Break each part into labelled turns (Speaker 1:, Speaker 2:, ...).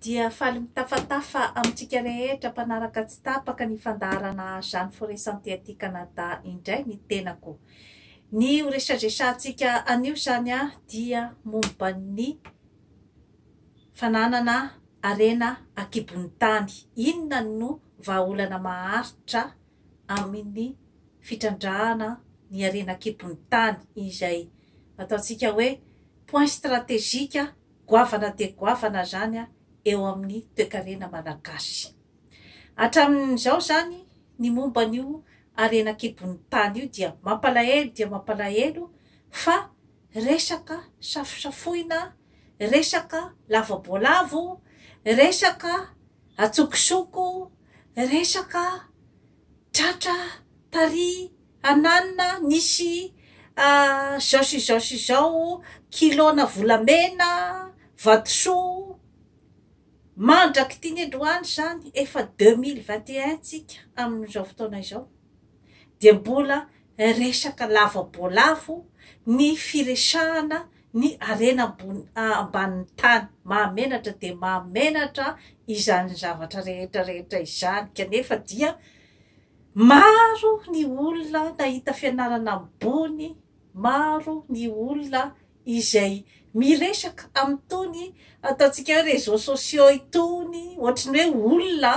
Speaker 1: dia faly mitafatafa amintsika rehetra mpanaraka tsy tapaka ny fandaharana Jeanne Forest Santé aty Canada indray ny tenako. Ny ho resadresantsika anio izany dia momba ny fananana harena akibon'ny tany. Inona no vahaolana maharitra amin'ny fitrandrahana ny harena akibon'ny tany izay ataontsika hoe point stratégique Goavana dia goavana izany eo amin'ny toekarena malagasy. Hatramin'izao izany ny momba an'io harena an-kibon'ny tany io dia mampalahelo dia mampalahelo fa resaka safosafoina, resaka lava-boalavo, resaka antsokosoko, resaka tratra taria Hananina nisy izao sy izao sy izao kilona volamena, vatosoa, mandrak'ity niandohany izany efa deux mille vingt et un tsika amin'izao fotoana izao dia mbola resaka lava boalavo ny firesahana ny harena ambony ambanin'ny tany, mahamenatra dia mahamenatra izany zavatra rehetra rehetra izany kanefa dia Maro ny olona nahita fianarana ambony, maro ny olona izay miresaka amin'itony ataontsika hoe réseaux sociaux itony, ohatran'ny hoe olona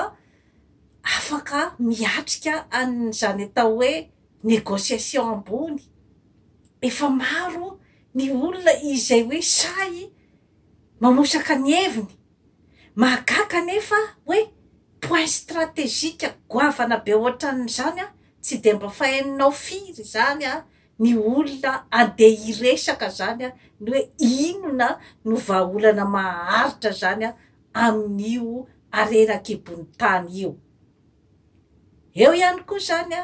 Speaker 1: afaka miatrika an'izany atao hoe négociation ambony, efa maro ny olona izay hoe sahy Mamosaka ny heviny. Mahagaga anefa hoe point stratégique goavana be ohatran'izany an, tsy dia mba faheninao firy izany an, ny olona andeha hiresaka izany an, ny hoe inona no vahaolana maharitra izany an, amin'io harena an-kibon'ny tany io. Eo ihany koa izany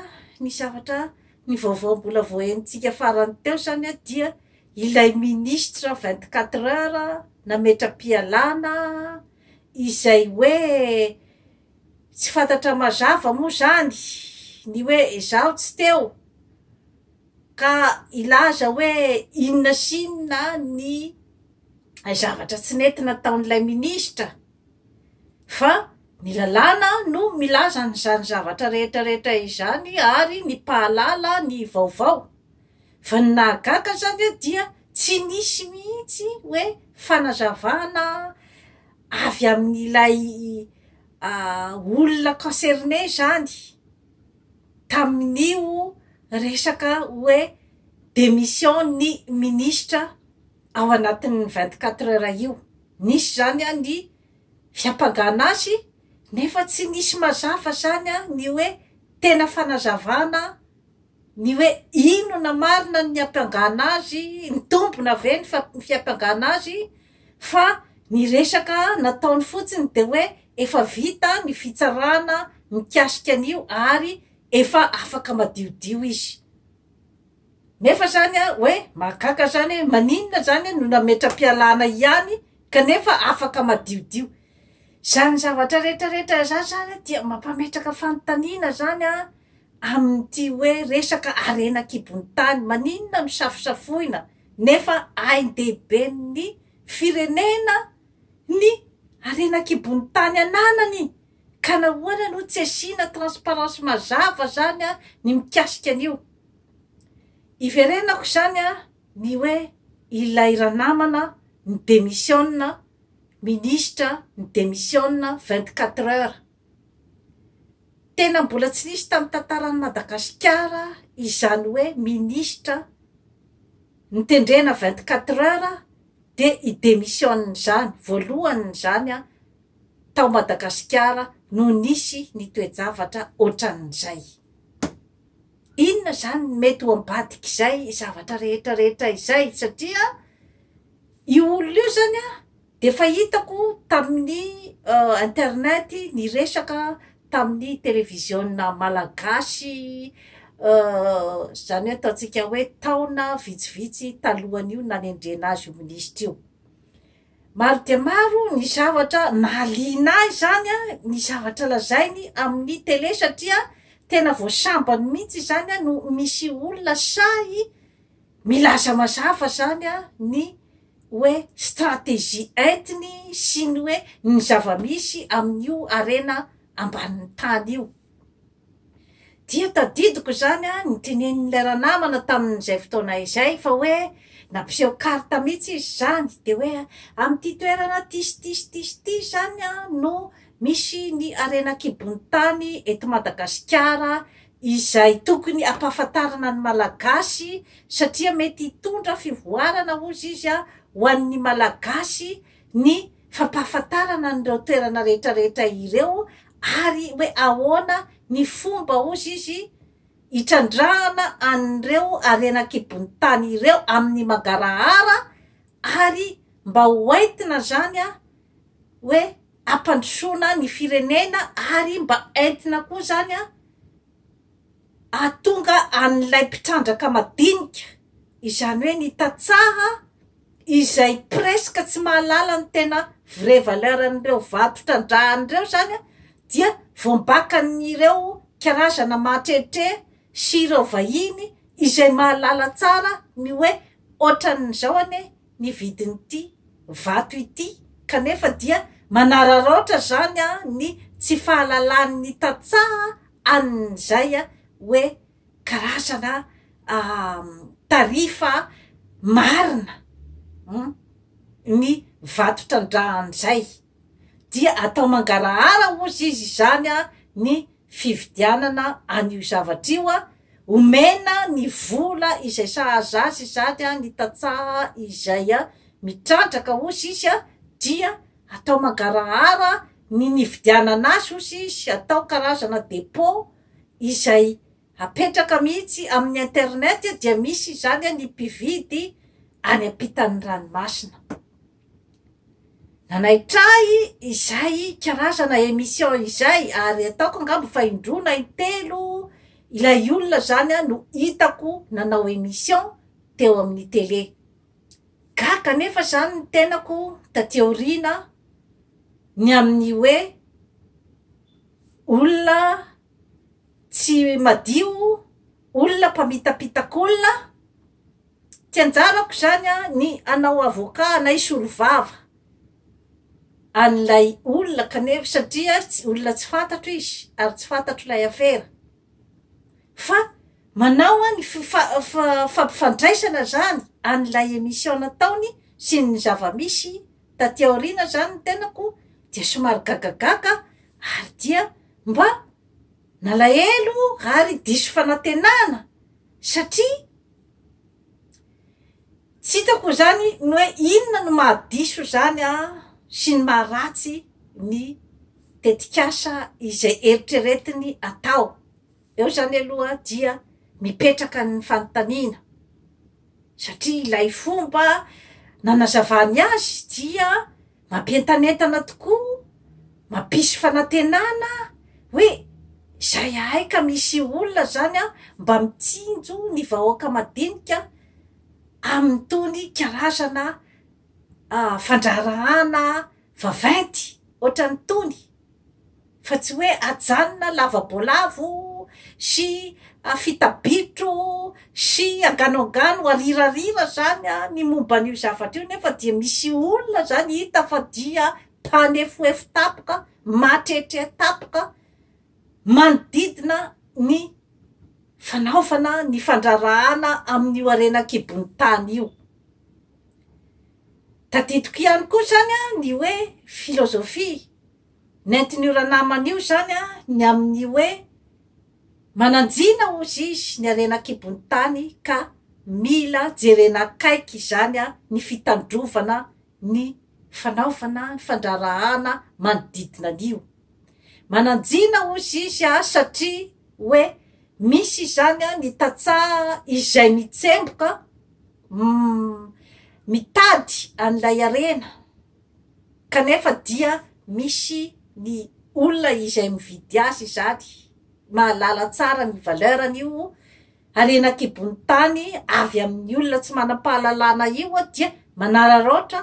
Speaker 1: ny zavatra, ny vaovao mbola vao henontsika farany teo izany dia ilay ministra vingt quatre heures nametra-pialana izay hoe tsy fantatra mazava moa izany ny hoe izaho tsy teo ka hilaza hoe inona sy inona ny zavatra tsy nety nataon'ilay ministra fa Ny lalàna no milaza an'izany zavatra rehetra rehetra izany ary ny mpahalala ny vaovao. Fa ny nahagaga zany dia tsy nisy mihitsy hoe fanazavana avy amin'ilay olona concerne zany tamin'io resaka hoe démission ny ministra ao anatin'ny vingt quatre heures io. Nisy zany ny fiampangana azy nefa tsy nisy mazava zany an ny hoe tena fanazavana ny hoe inona marina ny niampangana azy, nitombona ve ny fiampangana azy fa ny resaka nataony fotsiny dia hoe efa vita ny fitsarana mikasika an'io ary efa afaka madiodio izy. Nefa zany a oe mahagaga zany oe maninona zany no nametra-pialana ihany kanefa afaka madiodio? Zany zavatra rehetra rehetra zany zany dia mampametraka fanontaniana zany a amin'ity oe resaka harena an-kibon'ny tany maninona no safosafoina nefa ain-dehiben'ny firenena ny harena an-kibon'ny tany ananany ka nahoana no tsy asiana transparence mazava zany a ny mikasika an'io? Iverenako izany an, ny hoe ilay ranamana mi-demissionne, ministra mi-demissionne vingt quatre heures. Tena mbola tsy nisy tamin'ny tantaran'i Madagasikara izany hoe ministra notendrena vingt quatre heures dia hi-demissionne izany, voalohany izany an, tao Madagasikara no nisy ny toe-javatra ohatran'izay. Inona izany no mety ho ambadik'izay zavatra rehetra rehetra izay? Satria io olona io izany an, dia efa hitako tamin'ny internet niresaka tamin'ny televiziona malagasy izany hoe ataontsika hoe taona vitsivitsy talohan'io nanendrena azy io minisitra io. Maro dia maro ny zavatra nahaliana ahy izany a, ny zavatra lazainy amin'ny tele satria tena vao sambany mihitsy izany a no misy olona sahy milaza mazava izany a ny hoe stratégie entiny sy ny hoe ny zava-misy amin'io harena ambanin'ny tany io. Dia tadidiko izany ny tenenin'ilay ranamana tamin'izay fotoana izay fa hoe nampiseho carte mihitsy izy izany dia hoe amin'ity toerana ty sy ty sy ty sy ty izany no misy ny harena an-kibon'ny tany eto Madagasikara izay tokony ampahafantarana ny Malagasy satria mety hitondra fivoarana hozy izy ho an'ny Malagasy ny fampahafantarana an'ireo toerana rehetrarehetra ireo ary hoe ahoana ny fomba, hozy izy, hitrandrahana an'ireo harena an-kibon'ny tany ireo amin'ny mangarahara ary mba ho entina izany an, hoe hampandrosoana ny firenena ary mba entina koa izany an, hahatonga an'ilay mpitrandraka madinika, izany hoe ny tantsaha, izay presque tsy mahalala ny tena vrai valeur an'ireo vato trandrahany ireo zany a, dia voambakan'ireo karazana mahatrehitre sy ireo vahiny izay mahalala tsara ny hoe otran'izao anie ny vidin'ity vato ity kanefa dia manararaotra zany a ny tsy fahalalan'ny tantsaha an'izay a hoe karazana tarifa marina ny vato trandrahany izay dia atao mangarahara ozy izy izany a ny fividianana an'io zavatra io a omena ny vola izay sahaza azy izany a ny tantsaha izay a mitrandraka ozy izy a dia atao mangarahara ny nividianana azy ozy izy atao karazana depot izay apetraka mihitsy amin'ny internet dia misy izany ny mpividy any ampitan'ny ranomasina. Nanaitra ahy izay karazana emission izay ary ataoko angamba fa indroa na intelo ilay olona izany no hitako nanao emission teo amin'ny tele. Gaga anefa izany ny tenako taty aoriana ny amin'ny hoe olona tsy madio, olona mpamitapitakolona. Tsy anjarako izany ny hanao avocat na hisolovava an'ilay olona kanefa satria olona tsy fantatro izy ary tsy fantatro ilay afera. Fa manao an ny fampifandraisana zany an ilay emission nataony sy ny zavamisy taty aoriana zany ny tenako dia somary gagagaga ary dia mba nalahelo ary diso fanatenana satria tsy hitako zany ny hoe inona no maha diso zany an sy ny maha ratsy ny tetikasa izay eritreretiny atao. Eo izany aloha dia mipetraka ny fanontaniana satria ilay fomba nanazavany azy dia mampientanentana tokoa, mampisy fanantenana hoe izay ahay ka misy olona izany an mba mitsinjo ny vahoaka madinika amin'itony karazana fandraharahana vaventy ohatran'itony. fa tsy hoe ajanona lavaboalavo sy afita bitro sy anganoangano arirarira zany ny momba an'io zavatra io nefa dia misy olona zany hita fa dia mpanefoefo tapoka matretre tapoka manodidina ny fanaovana ny fandrarahana amin'io harena an-kibon'ny tany io. Tadidiko ihany koa izany a, ny hoe filozofia nentin'io ranamana io izany a, ny amin'ny hoe mananjina hozy izy ny harena an-kibon'ny tany ka mila jerena akaiky izany a, ny fitandrovana ny fanaovana ny fandraharahana manodidina an'io. Mananjina hozy izy a, satria hoe misy izany a ny tantsaha izay mitsemboka, mitady an'ilay harena kanefa dia misy ny olona izay mividy azy izany mahalala tsara ny valeur an'io harena an-kibon'ny tany avy amin'ny olona tsy manam-pahalalana io dia manararaotra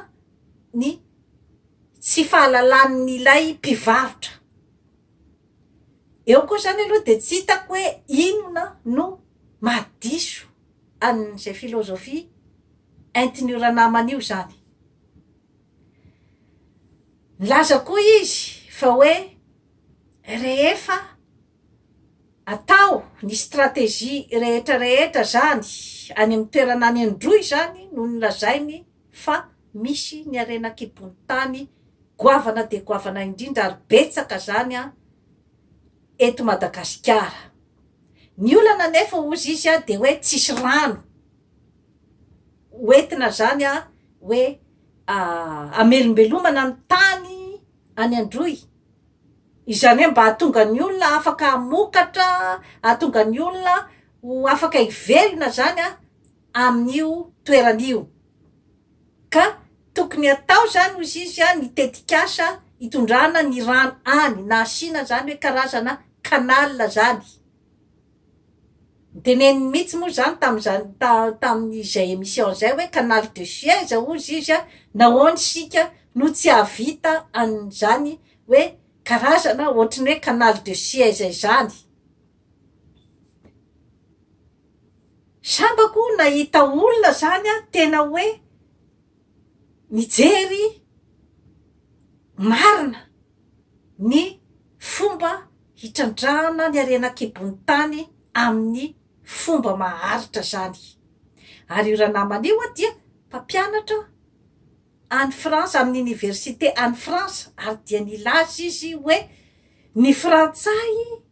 Speaker 1: ny tsy fahalalan'ilay mpivarotra eo koa izany aloha dia tsy hitako hoe inona no mahadiso an'izay filozofia entin'io ranamana io izany. Nilaza koa izy fa hoe rehefa atao ny stratégie rehetra rehetra izany any amin'ny toerana any Androy izany no nilazainy fa misy ny harena an-kibon'ny tany goavana dia goavana indrindra ary betsaka izany an eto Madagasikara. Ny olana anefa ozy izy dia hoe tsisy rano ho entina zany hoe amelombelomana ny tany any androy, izany hoe mba hahatonga ny olona afaka hamokatra, hahatonga ny olona ho afaka hivelona zany a. amin'io toerana io ka tokony atao zany hozy izy a ny tetikasa hitondrana ny rano any na asiana zany hoe karazana canal zany noteneniny mihitsy moa zany tamin'izany ta tamin'izay emission zay hoe canal de suez hozy izy a nahoana isika no tsy hahavita an'izany hoe karazana ohatry ny hoe canal de suez izany Sambako nahita olona zany tena hoe mijery marina ny fomba hitrandrahana ny harena an-kibon'ny tany amin'ny fomba maharitra zany ary io ranamana io dia mpampianatra any Frantsa, amin'ny oniversite any Frantsa, ary dia nilaza izy hoe, Ny Frantsay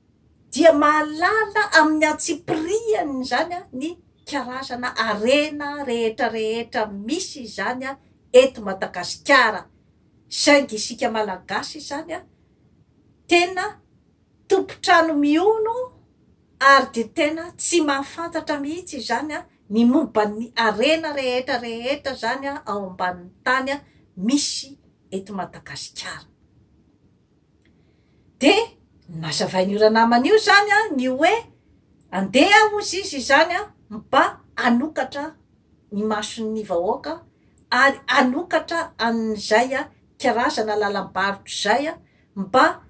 Speaker 1: dia mahalala amin'ny antsipirihany izany ny karazana harena rehetrarehetra misy izany eto Madagasikara, saingy isika Malagasy izany tena tompon-trano mihono, ary dia tena tsy mahafantatra mihitsy izany ny momban'ny harena rehetra rehetra izany ao ambanin'ny tany misy eto Madagasikara. Dia nazavain'io ranamana io izany ny hoe andeha hozy izy izany mba hanokatra ny mason'ny vahoaka ary hanokatra an'izay karazana lalam-barotra izay mba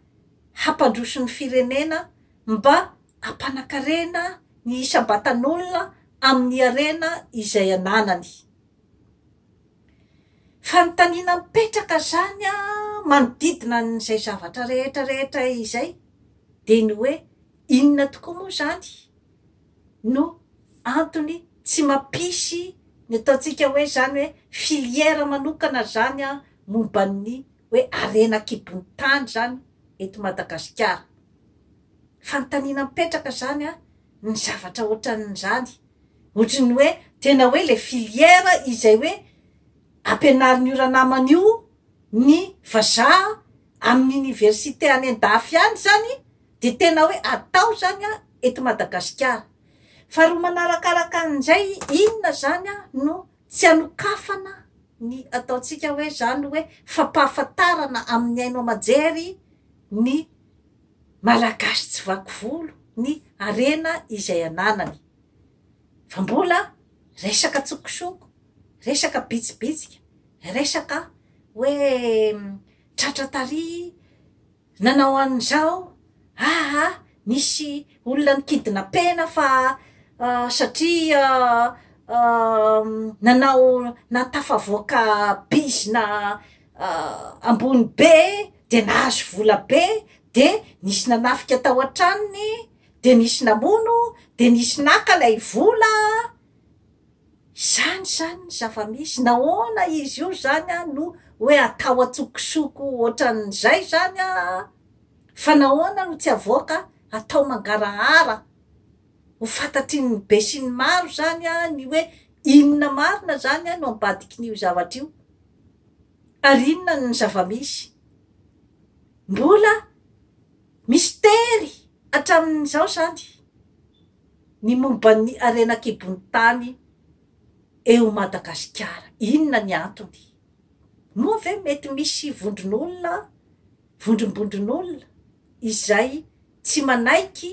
Speaker 1: hampandroso ny firenena mba hampanakarena ny isam-batan'olona amin'ny harena izay ananany. Fanontaniana mipetraka izany manodidina an'izay zavatra rehetra rehetra izay dia ny hoe inona tokoa moa izany no antony tsy mampisy ny ataontsika hoe izany hoe filière manokana izany momba ny hoe harena an-kibon'ny tany izany eto Madagasikara. Fanontaniana mipetraka izany an, ny zavatra ohatran'izany. Ohatry ny hoe tena hoe ilay filière izay hoe ampianarin'io ranamana io ny vazaha amin'ny université any an-dafy any izany dia tena hoe atao izany an eto Madagasikara. Faharoa manarakaraka an'izay inona izany an no. Tsy anokafana ny ataontsika hoe izany hoe fampahafantarana amin'ny haino aman-jery ny Malagasy tsy vaky volo ny harena izay ananany fa mbola resaka tsokosoko, resaka bitsibitsika, resaka hoe tratra tary, Nanao an'izao aa nisy olona nikidnapena fa satria nanao nahatafavoaka bizna ambony be dia nahazo vola be de nisy nanafika tao an-tranony de nisy namono de nisy naka ilay vola. Izany izany ny zava-misy. Nahoana izy io izany an no hoe atao an-tsokosoko ohatran'izay izany an? Fa nahoana no tsy avoaka atao mangarahara ho fantatry ny be sy ny maro izany an ny hoe inona marina izany an no ambadikin'io zavatra io? Ary inona ny zava-misy? Mbola mistery hatramin'izao izany. ny momba ny harena an-kibon'ny tany eo Madagasikara. Inona ny antony? Moa ve mety misy vondron'olona, vondrombondron'olona izay tsy manaiky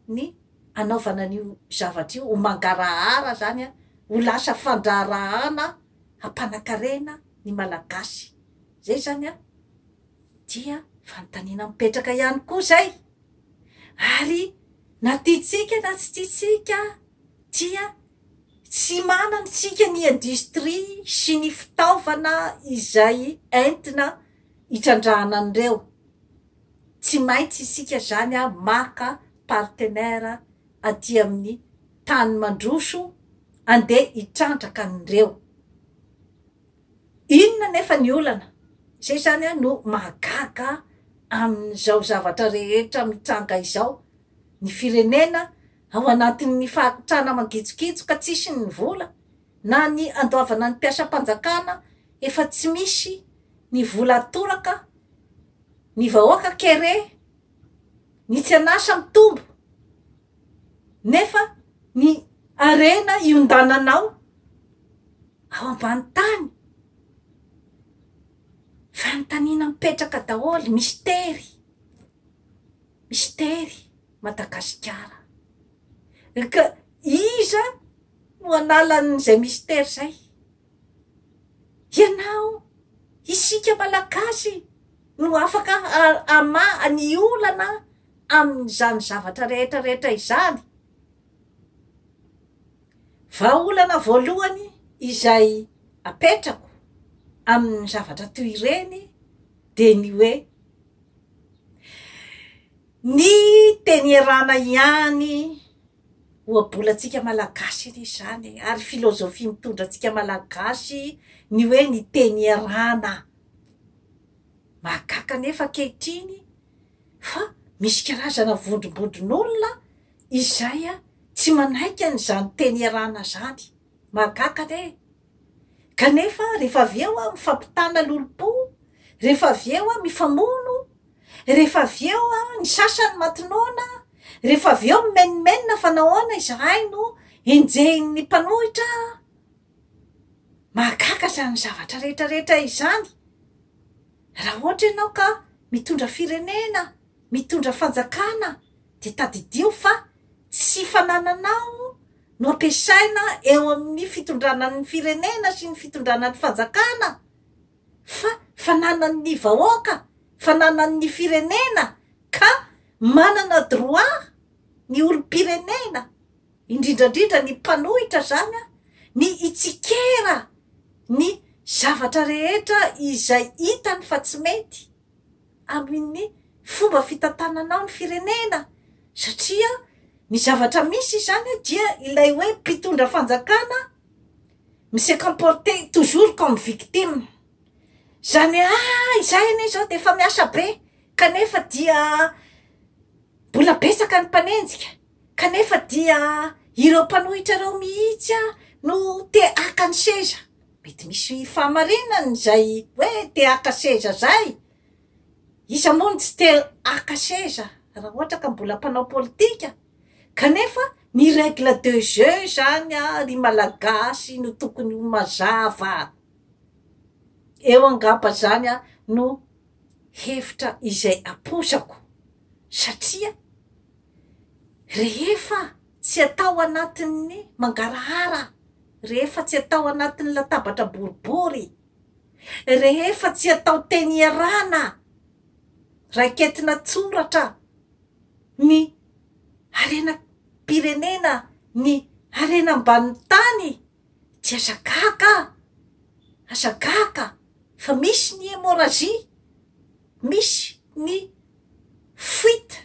Speaker 1: ny hanaovana an'io zavatra io, ho mangarahara izany, ho lasa fandraharahana hampanan-karena ny Malagasy? Izay izany an! dia fanontaniana mipetraka ihany koa izay, ary na tiantsika na tsy tiantsika dia tsy manana isika ny industrie sy ny fitaovana izay entina hitrandrahana an'ireo, tsy maintsy isika izany maka partenaire aty amin'ny tany mandroso andeha hitrandraka an'ireo. Inona anefa ny olana? Izay izany no mahagaga amin'izao zavatra rehetra mitranga izao. Ny firenena ao anatin'ny fahakitrana mangitsokitso ka tsisy ny vola, na ny andoavana ny mpiasam-panjakana efa tsy misy ny vola atoraka, ny vahoaka kere, ny tsy an'asa mitombo. Nefa ny harena iondananao ao ambany tany. Fanontaniana mipetraka daholo, mistery. Mistery Madagasikara. Ka iza no hanala an'izay mistery izay? Ianao, isika Malagasy no afaka hamaha ny olana amin'izany zavatra rehetra rehetra izany. Vahaolana voalohany izay apetrako amin'ny zavatra toy ireny dia ny hoe, ny teny erana ihany ohabolantsika malagasy anie izany e, ary filozofia mitondra antsika malagasy ny hoe ny teny erana, mahagaga anefa ankehitriny, Fa misy karazana vondrombondron'olona izay tsy manaiky an'izany teny iarahana izany. Mahagaga anie e! Kanefa rehefa avy eo mifampitana lolompo, rehefa avy eo mifamono, rehefa avy eo ny sasany matinona, rehefa avy eo mimenomenona fa nahoana izahay no enjehin'ny mpanohitra? mahagaga izany zavatra rehetra rehetra izany raha ohatra ianao ka mitondra firenena mitondra fanjakana dia tadidio fa tsy fanananao no ampiasaina eo amin'ny fitondrana ny firenena sy ny fitondrana ny fanjakana fa fananan' ny vahoaka fananan' ny firenena ka manana droit ny olom-pirenena indrindra indrindra ny mpanohitra izany an, ny hitsikera ny zavatra rehetra izay hitany fa tsy mety amin'ny fomba fitantananao ny firenena satria ny zavatra misy izany an dia ilay hoe mpitondra fanjakana mi-se comporter toujours comme victime izany hoe ah izahay anie izao dia efa miasa be kanefa dia mbola betsaka ny mpanenjika. kanefa dia ireo mpanohitra ireo mihitsy no te haka ny seza, mety misy fahamarinany izay hoe te haka seza izay, iza moa no tsy te haka seza raha ohatra ka mbola mpanao politika, kanefa ny règle de jeu izany ry malagasy no tokony ho mazava, eo angamba izany no hevitra izay apoizako satria. Rehefa tsy atao anatin'ny mangarahara, rehefa tsy atao anatin'ny latabatra boribory, rehefa tsy atao teny iarahana, raiketina tsoratra ny harenam-pirenena, ny harena ambanin'ny tany Tsy aza gaga a! Aza gaga fa misy ny hémorragie, misy ny fuite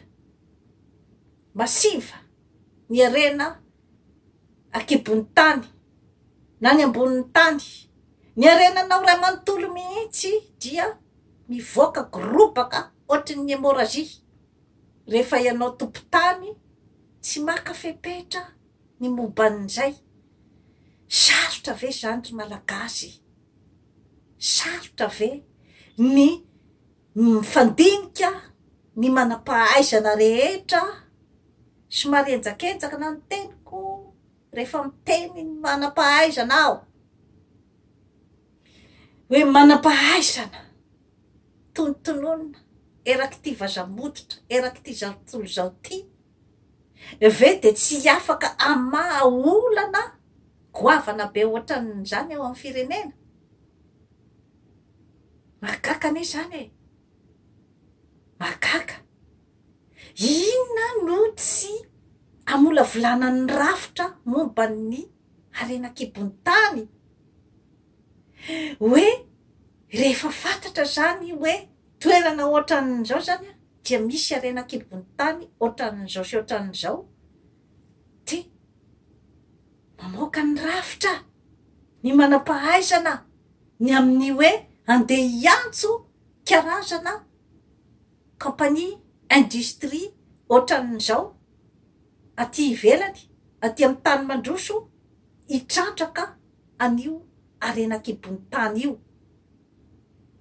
Speaker 1: massive ny harena an-kibon'ny tany na ny ambonin'ny tany. Ny harenanao iray manontolo mihitsy dia mivoaka gorobaka ohatry ny hémorragie rehefa ianao tompon-tany tsy maka fepetra ny momban'izay. Sarotra ve izany ry Malagasy e? Sarotra ve ny mifandinika ny manam-pahaizana rehetra? Somary henjakenjaka na ny teniko rehefa miteny ny manam-pahaizana aho. Hoe manam-pahaizana, tonontononina erak'ity vaza-mototra, erak'ity zatontolo izao ity. ve dia tsy afaka hamaha olana goavana be ohatran'izany ao amin'ny firenena? Mahagaga anie izany e! Mahagaga! Inona no tsy hamolavolana ny rafitra momba ny harena an-kibon'ny tany? Hoe rehefa fantatra izany hoe toerana ohatran'izao izany an, dia misy harena an-kibon'ny tany ohatran'izao sy ohatran'izao, dia mamoaka ny rafitra ny manam-pahaizana ny amin'ny hoe handeha hiantso karazana kaompania, industrie, ohatran'izao aty ivelany, aty amin'ny tany mandroso hitrandraka an'io harena an-kibon'ny tany io.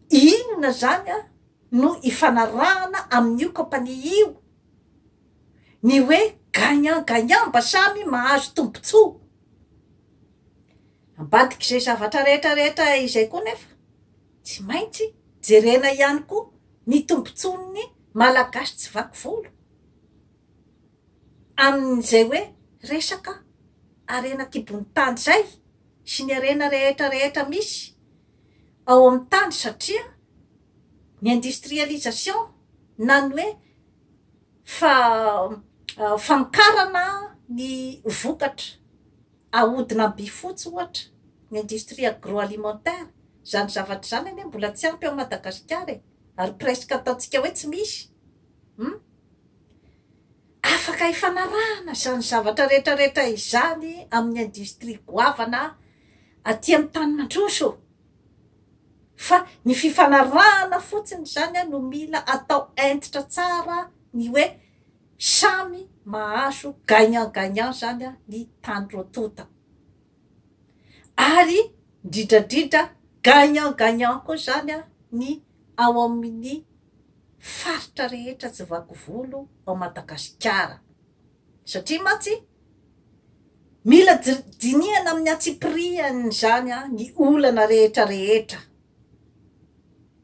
Speaker 1: Inona izany an? no ifanarahana amin'io kaompania io ny hoe gagnant gagnant mba samy mahazo tombontsoa. Ambadik'izay zavatra rehetra rehetra izay koa nefa tsy maintsy jerena ihany koa ny tombontsoan'ny Malagasy tsy vaky volo amin'izay hoe resaka harena an-kibon'ny tany izay sy ny harena rehetra rehetra misy ao amin'ny tany satria ny industrialisation na ny hoe fa famokarana ny vokatra ahodina am-by fotsy ohatra ny industrie agroalimentaire izany zavatra izany anie mbola tsy ampy ao Madagasikara e ary presque ataontsika hoe tsy misy hum afaka hifanarahana izany zavatra rehetra rehetra izany amin'ny industrie goavana aty amin'ny tany mandroso ô! Fa ny fifanarahana fotsiny izany no mila atao hentitra tsara ny hoe samy mahazo gagnant gagnant izany ny tany roa tonta. Ary indrindra indrindra gagnant gagnant koa izany ny ao amin'ny faritra rehetra tsy vaky volo ao Madagasikara. Satria mantsy, mila dinihana amin'ny antsipirihan'izany ny olana rehetrarehetra.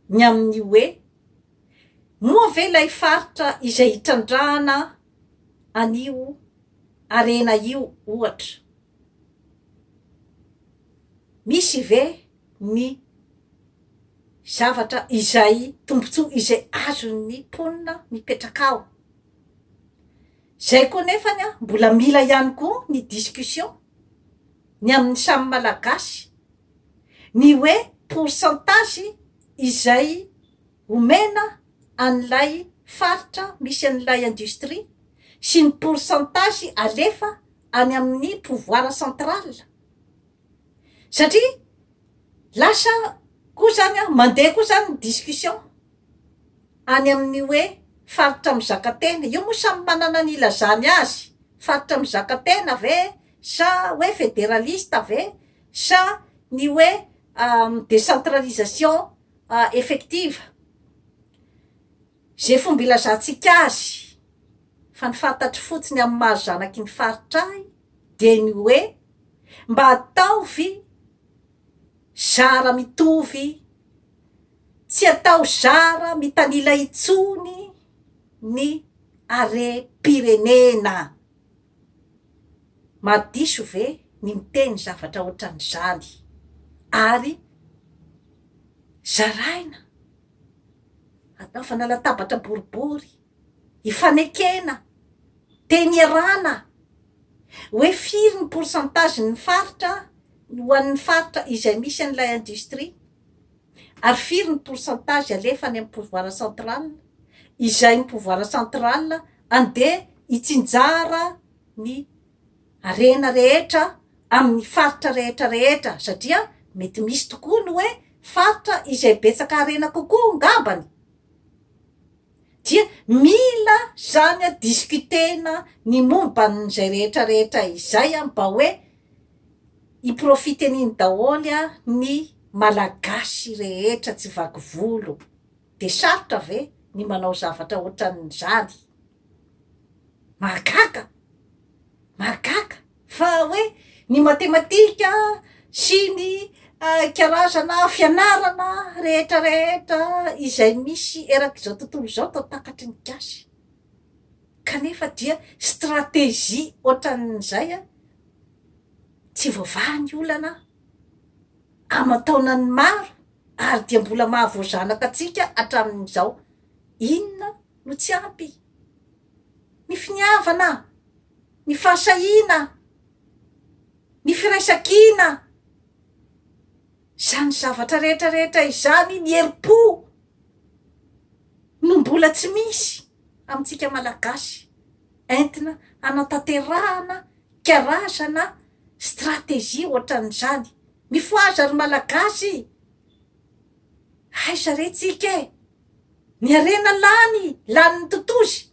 Speaker 1: Ny amin'ny hoe, moa ve ilay faritra izay hitrandrahana an'io harena io, ohatra, misy ve ny zavatra izay, tombontsoa izay azon'ny mponina mipetraka ao? Izay koa nefany an, mbola mila ihany koa ny discussion ny amin'ny samy Malagasy ny hoe pourcentage izay omena an'ilay faritra misy an'ilay industrie sy ny pourcentage alefa any amin'ny pouvoir central satria lasa koa izany an, mandeha koa izany ny discussion any amin'ny hoe faritra mizaka tena. Io moa samy manana ny ilazany azy. Faritra mizaka tena ve sa hoe federalista ve sa ny hoe décentralisation effective. Izay fomba ilazantsika azy fa ny fantatro fotsiny amin'ny maha zanaky ny faritra ahy dia ny hoe mba ataovy zara mitovy Tsy atao zara mitanila intsony ny harem-pirenena. Mahadiso ve ny miteny zavatra ohatran'izany? Ary zaraina, anaovana latabatra boribory, ifanekena, teny iarana hoe firy ny pourcentage-n'ny faritra ho an'ny faritra izay misy an'ilay industrie. Ary firy ny pourcentage alefa any amin'ny pouvoir central? Izay ny pouvoir central andeha hitsinjara ny harena rehetra amin'ny faritra rehetra rehetra satria mety misy tokoa ny hoe faritra izay betsaka harena kokoa ngambany? dia mila zany a discuter-na ny momba an'izay rehetra rehetra izay a mba hoe hi profiter-n'iny daholo a ny Malagasy rehetra tsy vaky volo dia sarotra ve ny manao zavatra ohatran'izany? Mahagaga! Mahagaga! Fa hoe ny matematika sy ny karazana fianarana rehetra rehetra izay misy erak'izao tontolo izao tao takatry ny gasy kanefa dia stratégie ohatran'izay a tsy voavaha ny olana aman-taonany maro ary dia mbola mahavoazanaka antsika hatramin'izao inona no tsy ampy ny finiavana ny fahasahiana, ny firaisan-kina, izany zavatra rehetra rehetra izany, ny herim-po no mbola tsy misy amintsika Malagasy entina hanatanterahana karazana stratégie ohatran'izany. Mifohaza ry Malagasy e! Aiza re tsika e! Ny harena lany, lanin'ny totozy.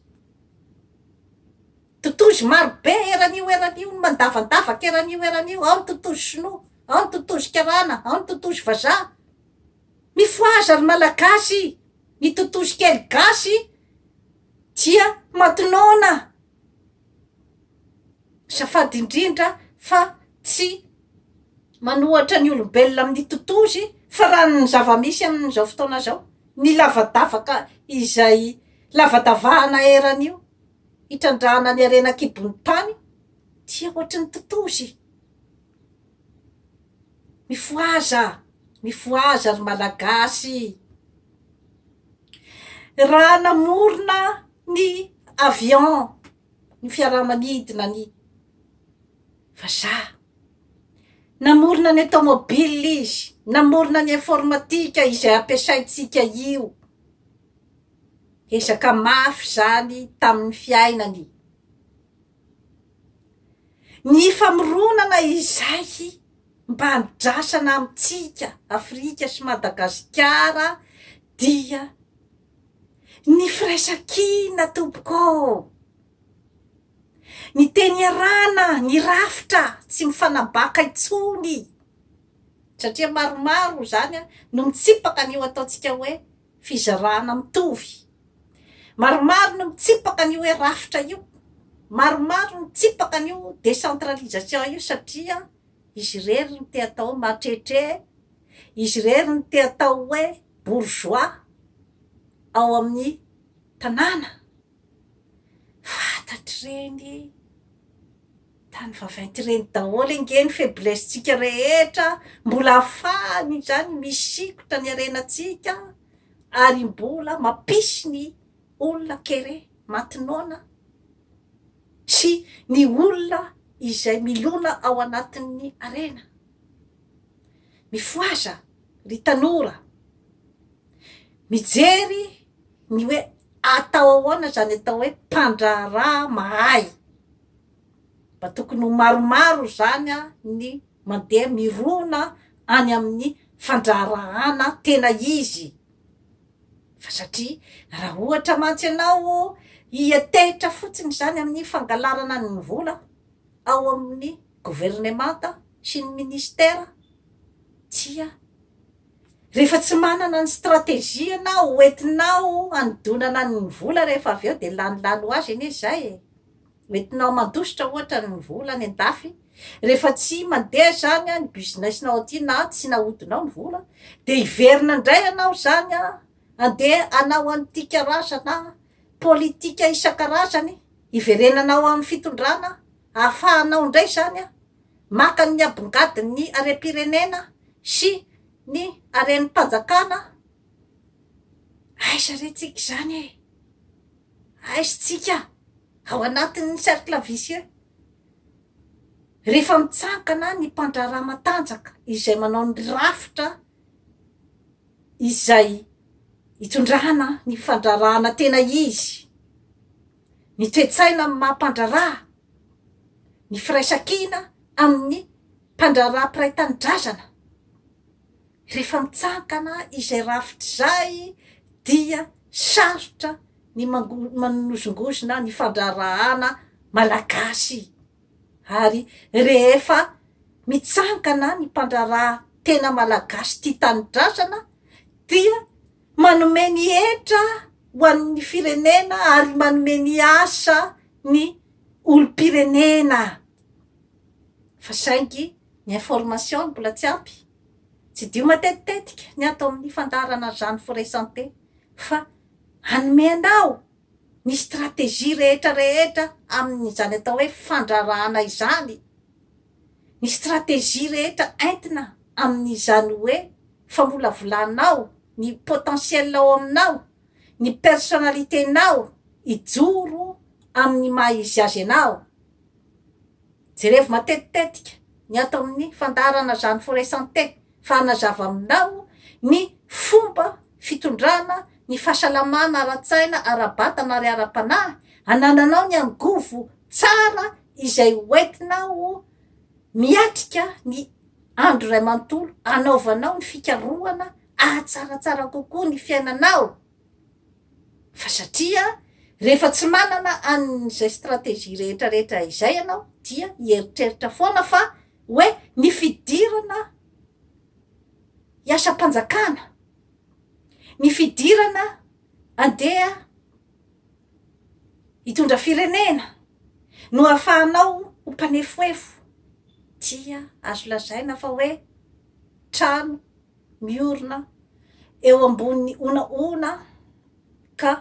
Speaker 1: Totozy maro be eran'io eran'io no mandavandavaka eran'io eran'io, ao ny totozy sinoa, ao ny totozy karana, ao ny totozy vazaha. Mifohaza ry Malagasy, ny totozy kely gasy dia matonona. Azafady indrindra fa tsy manohatra ny olombelona amin'ny totozy fa raha ny zava-misy amin'izao fotoana izao, ny lavadavaka izay lavadavahana eran'io hitrandrahana ny harena an-kibon'ny tany dia ohatry ny totozy. Mifohaza, mifohaza ry Malagasy. Raha namorona. ny avion ny fiaramanidina ny vazaha namorona ny automobile izy namorona ny informatika izay ampiasaintsika io ezaka mafy zany tamin'ny fiainany ny famoronana izay mba andrasana amintsika afrika sy madagasikara dia Ny firaisankina tompoko ô! Ny teny iarahana, ny rafitra tsy mifanabaka intsony satria maromaro izany no mitsipaka an'io ataontsika hoe fizarana mitovy, maromaro no mitsipaka an'io hoe rafitra io, maromaro no mitsipaka an'io décentralisation io satria izy irery no te atao hoe mahatrehitre izy irery no te atao hoe bourgeois ao amin'ny tanàna. Fantatr'ireny tany vaventy ireny daholo ange ny faiblesse-ntsika rehetra, mbola afahany izany misikotra ny harenantsika ary mbola mampisy ny olona kere maty noana sy ny olona izay milona ao anatin'ny harena. Mifohaza ry tanora. Mijery ny hoe atao ahoana izany atao hoe mpandraharaha mahay. Mba tokony ho maromaro izany ny mandeha mirona any amin'ny fandraharahana tena izy. Fa satria raha ohatra mantsy ianao hiantehitra fotsiny izany amin'ny fangalarana ny vola, ao amin'ny governemanta sy ny minisitera dia rehefa tsy manana ny stratégie ianao ho entinao hanodonana ny vola rehefa avy eo dia lany lany ho azy anie izay e! ho entinao mandositra ohatra ny vola any an-dafy rehefa tsy mandeha izany ny business-nao aty na tsy nahodinao ny vola dia hiverina indray ianao izany handeha hanao an'ity karazana politika isan-karazany Hiverenana ao amin'ny fitondrana hahafahanao indray izany maka ny abongadin'ny harem-pirenena sy ny harem-panjakana? Aiza re tsika izany e? Aiza tsika ao anatin'ny cercle vicieux? Rehefa mitsangana ny mpandraharaha matanjaka izay manao ny rafitra izay itondrana ny fandrarahana tena izy, ny toe-tsaina amin'ny maha mpandraraha, ny firaisan-kina amin'ny mpandraraha mpiray tanindrazana, rehefa mitsangana izay rafitra izay dia sarotra ny manozongozona ny fandraharahana malagasy. Ary rehefa mitsangana ny mpandraharaha tena malagasy tia tanindrazana dia manome ny hetra ho an'ny firenena ary manome ny asa ny olom-pirenena fa saingy ny information no mbola tsy ampy. Tsidiho matetitetika ny ato amin'ny fandaharana Jeanne Forest Santé fa hanome anao ny stratégie rehetra rehetra amin' izany atao hoe fandrarahana izany, ny stratégie rehetra entina amin' izany hoe famolavolanao ny potentiel ao aminao, ny personnalité-nao hijoro amin' ny maha izy azy anao. Jerevo matetitetika ny ato amin'ny fandaharana Jeanne Foray-Santé fa hanazava aminao ny fomba fitondrana ny fahasalamana ara-tsaina, ara-batana ary ara-panahy anananao ny angovo tsara izay hoentinao miatrika ny andro iray manontolo hanaovanao ny fikarohana hahatsaratsara kokoa ny fiainanao. Fa satria rehefa tsy manana an'izay stratégie rehetrarehetra izay ianao dia hieritreritra foana fa hoe ny fidirana hiasam-panjakana, ny fidirana handeha hitondra firenena no ahafahanao ho mpanefoefo dia azo lazaina fa hoe trano. miorina eo ambonin'ny honahona ka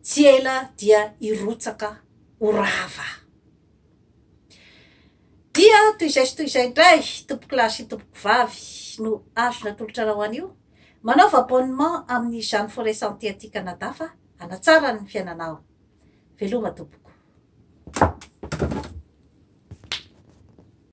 Speaker 1: tsy ela dia hirotsaka ho rava. Dia toy izay sy toy izay indray, tompokolahy sy tompokovavy no azo natolotra anao anio. Manaova abonnement amin'ny Jeanne Forêt Santé aty Canada fa hanatsara ny fiainanao. Veloma tompoko.